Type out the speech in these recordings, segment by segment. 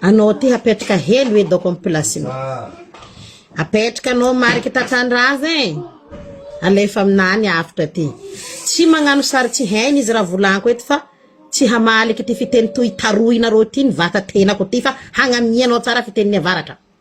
Anao ty hapetraka helo edy aoko am plasinao. Apetraka anao mariky tatandrava e. Alefa amina any avotra ty. Tsy magnano sary tsy hainy izy raha volanko eto fa tsy hamaly ity fiteny toy tarohinareo ity ny vata tenako ity fa hagnamianao tsara fitenin'ny avaratra.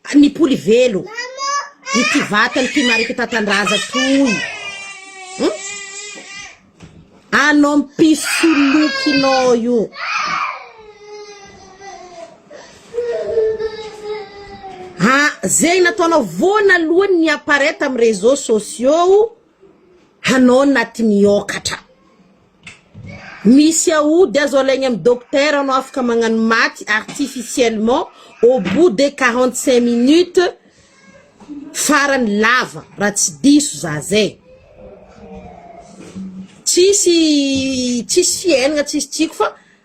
Ka ny poly velo ity vatany ty marika tatandraza toy hum anao mpisolokinao io ha zegny nataonao voanalohany ny apparaît tam réseau sociaux hanao naty miokatra Misy aody azo alaigny am docteur anao afaka magnano maty artificiellement au bout de quarante cinq minutes farany lava raha tsy diso za zay, tsisy tsisy fiaignana tsisy tsiko fa.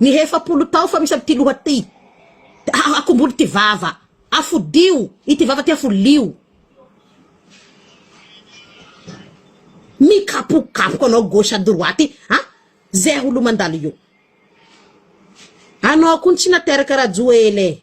Ny efapolo taofa misy amin'ity loha ity, akombolo ity vava, afodio ity vava ity afolio. Mikapokapoka anao gauche à droite an! Zay olo mandalo io. Anao koa ny tsy nateraka Rajoel e!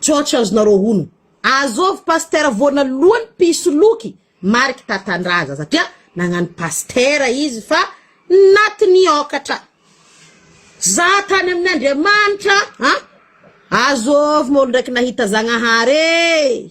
Church azonareo honina. Azovy Pasteur voana lohany mpisoloky mariky tatandraza satria nagnano Pasteur izy fa naty niokatra. Za tany amin Andriamanitra an. Azovy moa olo ndraiky nahita Zagnahary ee.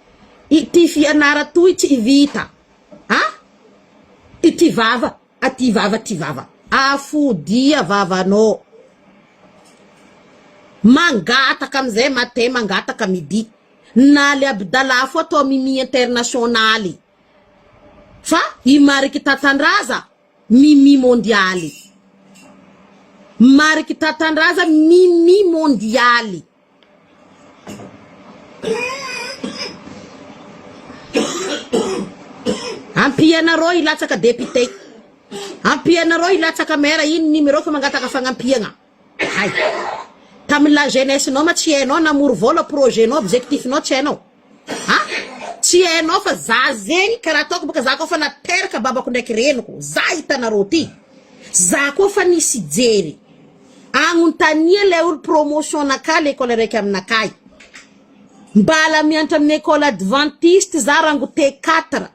Ity fianara toy tsy vita a! Ity vava a! Ty vava ty vava a! Afodia vavanô! Mangataka amizay matin mangataka midi na le abidalafo atao mimi internationaly fa i mariky tatandraza mimi mondialy mariky tatandraza mimi mondialy Ampianareo hilatsaka député. Ampianareo hilatsaka maire ino numéro fa mangataka fagnampiagna. Hay. Tamin'ny la jeunesse nao ma tsy hainao namory vola projet nao objectif nao tsy hainao. Ha! tsy hainao fa za zegny karaha ataoko boka za koa fa nateraka babako ndraiky reniko za hitanareo ty za koa fa nisy jery agnontania le olo promotion naka lekole raiky aminakahy mbala miantra aminy ecole adventiste za rango te quatre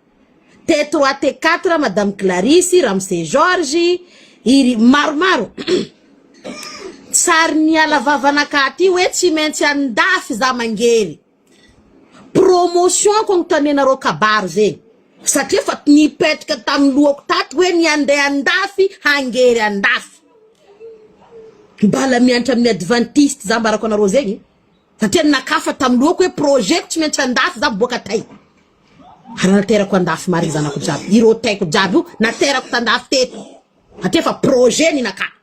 te trois te quatre madame clarisy ramse george iry maromaro sary niala vavanakahy ty hoe tsy maintsy andafy za mangery Promotion ko notanenareo kabary ve? Satria efa nipetraka tamin'ny lohako tato hoe ny handeha andafy hangery andafy. Mbala miantra amin'ny adventiste za ambarako anareo zegny satria nakafa tamin'ny lohako hoe projet ko tsy maintsy andafy za miboaka tay. Ary naterako andafy marigny zanako jiaby. Ireo taiko jiaby io naterako tandafy teto satria efa projet ninakà.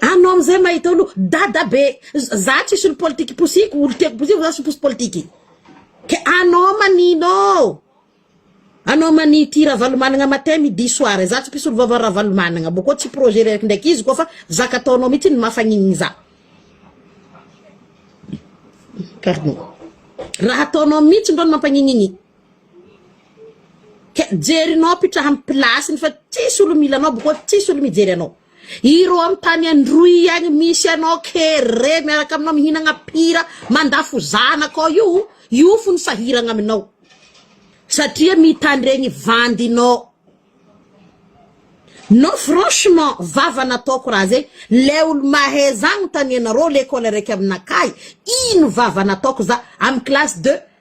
Anao amizay mahita olo dada be za tsisy olo politika iposiko olo tiako posiko za tsy miposy politika e ke anao manino anao manino ity ravalomanana matin midi soir za tsy mpisolo vava ravalomanana boko tsy projet reraky ndraiky izy ko fa zaka ataonao mitsy no mafanininy za pardon raha ataonao mitsy ndro no mampanininy. Ka jerinao ampiditra amin'ny place-ny fa tsisy olo mila anao boko tsisy olo mijery anao. Ireo amin'ny tany androy agny misy anao kere miaraka aminao mihinagna pira mandafo zanaka ao io io fo ny sahiragna aminao satria mitandregny vandinao. Non franchement vava nataoko raha zay le olo mahay za anontanianareo lekole araiky aminakahy ino vava nataoko za amin'ny classe de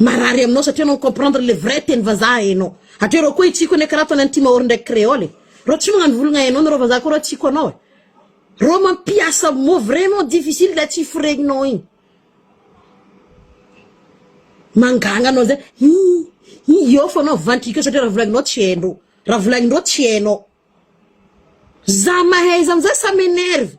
Marary aminao satria anao mi-comprendre le vrai teny vazaha enao. Hatreo reo koa hitsiko anie karaha ataony any Timahôro ndraiky Creole e. Reo tsy magnano volagna enao nareo vazaha koa reo hitsiko anao e. Reo mampiasa mot vraiment difficile le tsy foregninao igny. Mangagna anao zay hi hi eo fô anao vantika eo satria raha volagninao tsy haindreo. Raha volagnindreo tsy hainao. Za mahay izy amizay ça m'enerve.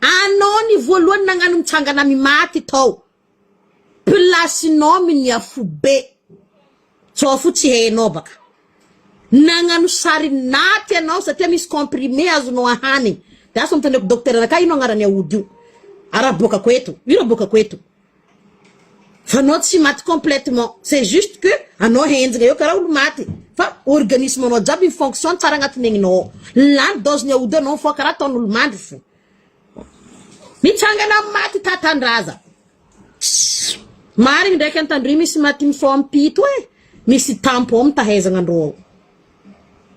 Anao ny voalohany nagnano mitsangana amy maty tao place nao miny afobe zao fo tsy hainao baka nagnano sary naty anao satria misy comprimé azonao ahanigny de aso anontaniako docteur anakah ino agnarany aody io araboakako eto io raboakako eto Fa anao tsy maty complètement, c'est juste que anao henjina eo karaha olo maty fa organisme anao jiaby mi fonctionne tsara agnatin'ny aignina ao, lany dose ny aody anao fa karaha ataon'olo mandry fo, mitsangana amin'ny maty tatandraza, marigny ndraiky antandroy misy maty mifao am pito e, misy tampo ao mitahaizagna andrô ao,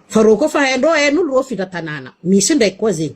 fa rô koa fa haindrô hain'olo rô findra tanàna, misy ndraiky koa zegny.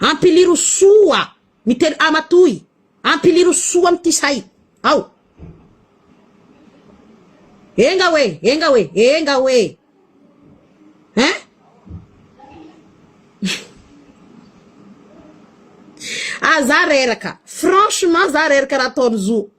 Ampiliro soa ny teny ama toy ampiliro soa am ty say ao. Enga hoe enga hoe enga hoe hein ah za reraka franchement za reraka raha ataony zo.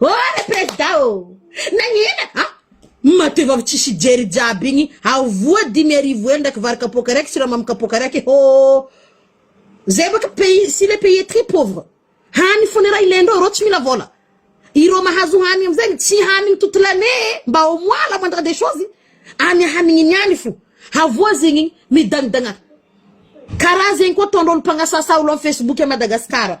Oh le president ô! Nagnina a! Matoa efa tsy sy jery jiaby igny ao voa dimy arivo ela ndraiky vary kapoaka raiky siramamy kapoaka raiky hô! Zay baka pays si le pays est très pauvre hany fôna raha ilaindreo ireo tsy mila vôla ireo mahazo hany amizay tsy hanigny toute l'année e! Mba au moins la moindre des choses any hanigniny any fo havoa zegny midagnidagna karaha zegny koa ataondreo olo mpagnasasa olo am facebook a Madagascar.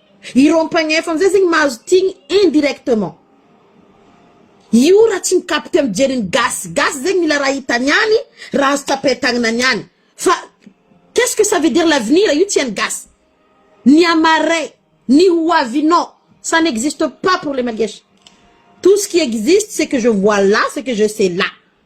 Ireo mpagnf amzay zegny mahazo tigny indirectement. Io raha tsy mikapite am jery ny gasy gasy zegny mila raha hitany any, raha azo tsapain-tagnanany any. Fa qu'est ce que ça veut dire l'avenir io tsy hain'ny gasy. Ny amarais, ny ho avinao, ça n'existe pas pour les malgaches. Tout ce qui existe c'est que je vois là, ce que je sais là.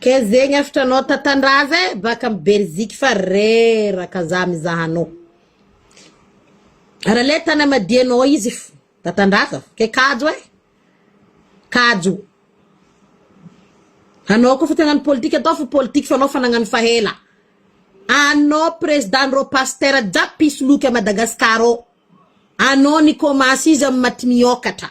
Kay zegny efitra anao tatandraza e baka am belziky fa reraka za mizaha anao ary le tanamadianao izy fa tatandraza kay kajo e kajo anao koa fa tena ny politika atao fa politika fa anao fa nagnano fa ela anao president ndreo pasteur jiaby mpisoloky a Madagascar ao anao nikomansy izy am maty miokatra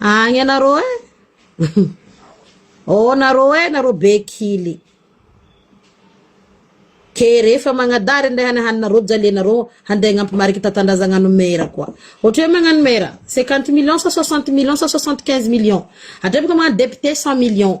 Agny anareo eh! Ô nareo eh nareo be kily. Ke rehefa magnadary ndray hany haninareo jalianareo handeha hagnampo marika tantandrazagnano an'i Mera koa. Ohatra hoe magnano Mera, 50 millions sa 60 millions sa 75 millions. Hatreo bôka magnano député 100 millions.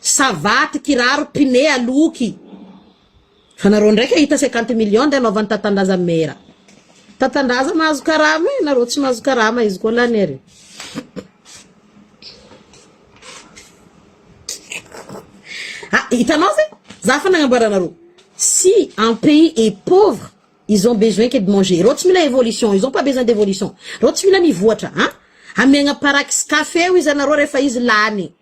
Savaty, kiraro, pine, aloky. Fa nareo ndray kahita cinquante millions ndeha anaovany tatandraza mera. Tatandraza mahazo karama e, nareo tsy mahazo karama izy koa lany ary. Ah, hitanao ve? Za fa nagnamboaranareo. Si un pays est pauvre, ils ont besoin que de manger. Ireo tsy mila évolution, ils ont pas besoin d'évolution. Ireo tsy mila mivoatra, hein? Amiagna parax café io izy anareo rehefa izy lany.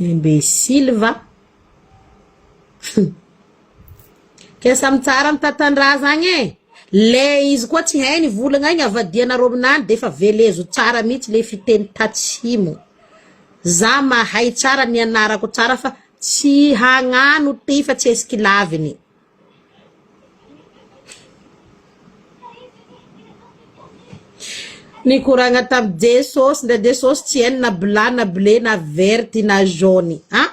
Imbecile va? Kay samy tsara am tantandrahazagna e, le izy koa tsy hainy volagna igny avadianareo aminany defa velezo tsara mintsy le fiteny tatsimo, za mahay tsara nianarako tsara fa tsy hagnano ty fa tsy hesikilaviny. Nikoragna tamin'i Jesosy ndray Jesosy tsy hainy na blanc na bleu na vert na jaune a!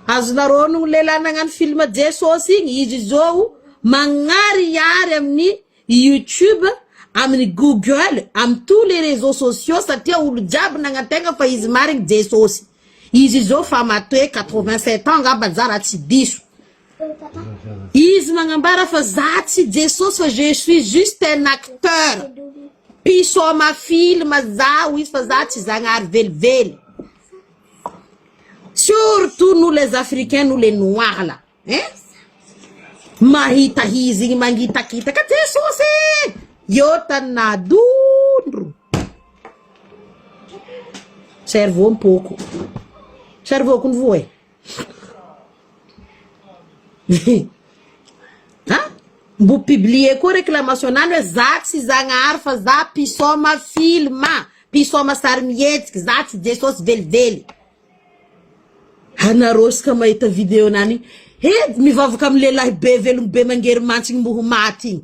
Azonareo onogno ny lehilahy nagnano film Jesosy igny? Izy izao magnarihary amin'ny YouTube, amin'ny Google, amin'ny tous les réseaux sociaux satria olo jiaby nagnantegna fa izy marigny Jesosy. Izy izao efa matoe quatre vingt sept ans ngamba za raha tsy diso. Izy magnambara fa za tsy Jesosy fa je suis juste un acteur. Mpisôma film zaho izy fa za tsy Zagnahary velively. Surtout nous les africains, nous les noirs là. Hein? Mahita izy igny mangitakitaka Jesosy e! Eo tany nadondro. Cerveau mpôko. Cerveau-ko nivoa e. Ha? Mbo publier koa réclamation any hoe za tsy Zagnahary fa za mpisaoma film, mpisaoma sarimihetsika, za tsy Jesosy velively. Anareo isaka mahita video nani he mivavaka amin'ny lehilahy be velom be mangery mantsy igny mbo ho maty igny.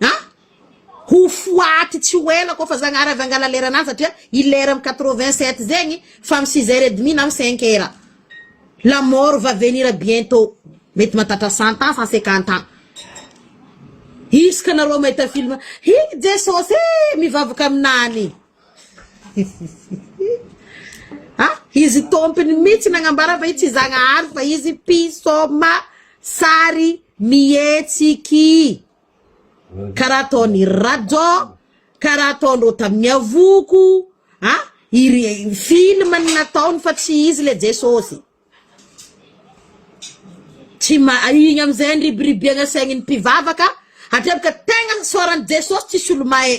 A! Ho foaty tsy ho ela koa fa Zagnahary avy hangala leranany satria i lera am quatre vingt sept zegny fa am six heures et demi na am cinq heures la mort va venir bientot mety mahatratra cent ans cent cinquante ans izy ka nareo mahita film hihi Jesosy ee mivavaka aminany. Ah! Izy tompony mitsy nagnambara fa i tsy Zagnahary fa izy mpisoma sary mihetsiky karaha ataony Rajò, karaha ataondreo tamin'ny avoko ah! Iry film no nataony fa tsy izy le Jesosy. Tsy ma igny amizay niribiribiagna saign'ny mpivavaka, hatreto ka tegna isaoran'i Jesosy tsisy olo mahay.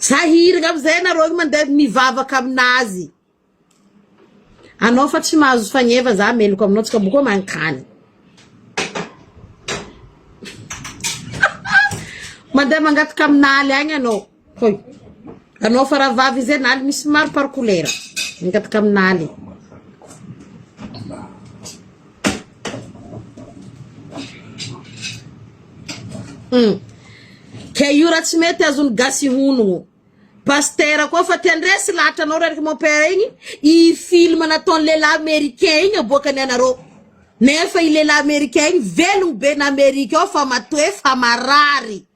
Za hirigna amizay nareo io mande mivavaka aminazy anao fa tsy mahazo fagneva za meloka aminao tsy ka boko mankany mande mangataka aminaly agny anao hoy anao fa rahavavy izay naly misy maro par kolera mangataka aminaly Hum. Ke io raha tsy mety azon'ny gasy honogno. Pasitera koa fa te handresy lahatra anao reraka mon père igny, i film nataon'ny lehilahy américain igny aboakany anareo. Nefa i lehilahy américain igny velogno be na Amerika ao fa matoe fa marary.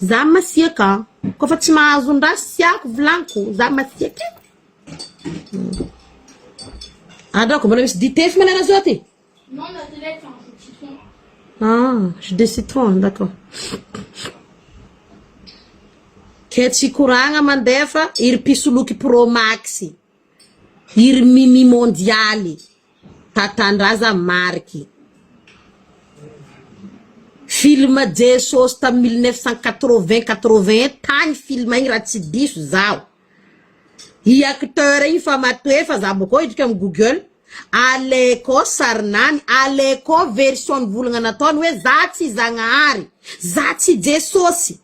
Za masiaka an! Koa fa tsy mahazo ny raha siako vilaniko, za masiaka e! Adraoko, mbola misy dite efa manana zao ty? Non, la télé fait un jus de citron. Ah, jus de citron, d'accord. Kay tsy koragna mandefa iry mpisoloky pro max. Iry Mimi Mondialy Tatandraza mariky film Jesosy tamin'ny mille neuf cent quatre-vingt, quatre-vingt un tagny film igny raha tsy diso zaho. I acteur igny fa matoe fa za bôkô hiditra am google, aleko sarinany, aleko version nivolagna nataony hoe za tsy Zagnahary, za tsy Jesosy.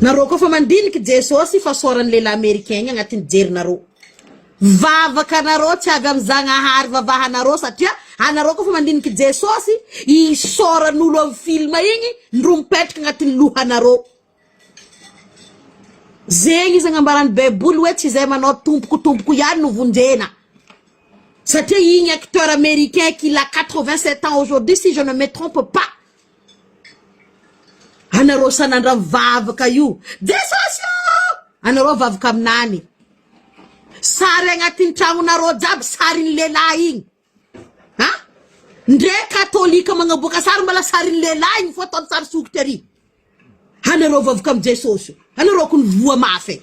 Nareo koa fa mandiniky Jesosy i fasoaran'ny lehilahy americain igny agnatin'ny jerinareo. Vavaka nareo tsy avy amin'ny Zagnahary vavahanareo satria anareo koa fa mandiniky Jesosy i isaoran'olo amin'ny film igny ndro mipetraka agnatin'ny lohanareo. Zegny izy agnambaran'ny baiboly hoe tsy zay manao tompoko tompoko ihany no vonjena. Satria igny acteur americain qui l'a 87 ans aujourd'hui si je ne me trompe pas Anareo sanandraha mivavaka io Jesosy ô! Anareo vavaka aminany sary agnatin'ny tragnonareo jiaby sarin'ny lehilahy igny a! Ndre katolika magnaboaka sary mbala sarin'ny lehilahy igny fô ataony sary sokitra ery, anareo vavaka amin'i Jesosy ô! Anareo kony voa mafy e!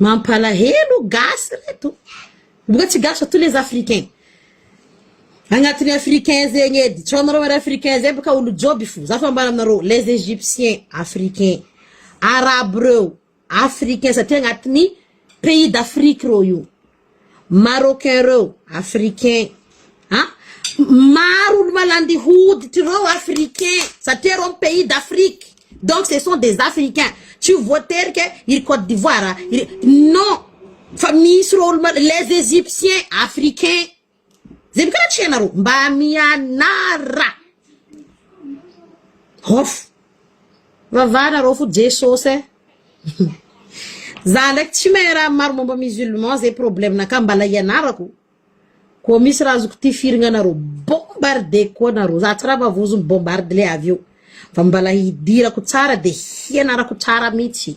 Mampalahelo gasy reto mbola tsy gasy ato les africain agnatiny africain zegny edy tsy anareo ary africain zay baka olo joby fo za fa ambara aminareo les egyptiens africain arabo reo Africain satria agnatiny pays d'Afrique reo io marocain reo africain a maro olo malandy hoditry reo africain satria reo am pays d'Afrique donc ce sont des africain tsy ho voatery ke iry cote d'ivoire iry non fa misy reo olo mal les egyptiens africain Zay boka raha tsy hainareo mba mianara off. Vavara rô fo Jesosy eh za ndraiky tsy mahay raha maro momba musulman zay problème nakah mbala hianarako koa misy raha azoko tifirina anareo bombarde koa nareo za tsy raha vavozo bombarde le avy eo fa mbala hidirako tsara de hianarako tsara mitsy.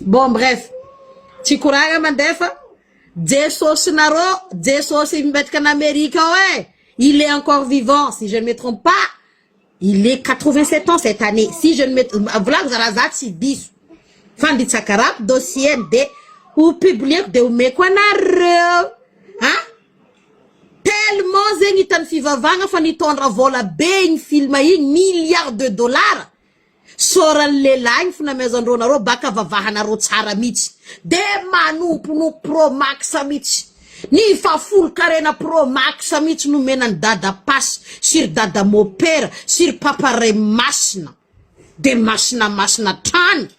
Bon bref, tsy koragna mandefa, Jesosinarô, Jesosy mipetraka any Amerika ao e, il est encore vivant si je ne me trompe pas, il est quatre vingt sept ans cette année si je ne me tr- volagniko za raha za tsy diso, fanditsakarako dossier-ny de ho publieko de omeko anareo an! Tellement zegny hitan'ny fivavahagna fa nitondra vôla be igny film igny, milliards de dollars, sôran'ny lehilahy igny fnamezan-drô narô baka vavahanarô tsara mitsy de manompo no pro max mitsy, ny fa folon-karena pro max mitsy nomena an'i dada pasy sy ry dada mopera sy ry papa ray masina de masina masina hatrany.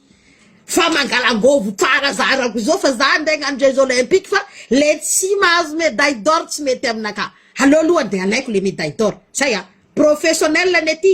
Fa mangalangovo tsara zarako zao fa za nde nano jeux olympique fa le tsy mahazo medaille d'or tsy mety aminakahy aleo aloha de alaiko le medaille d'or zay a professionnel anie ty.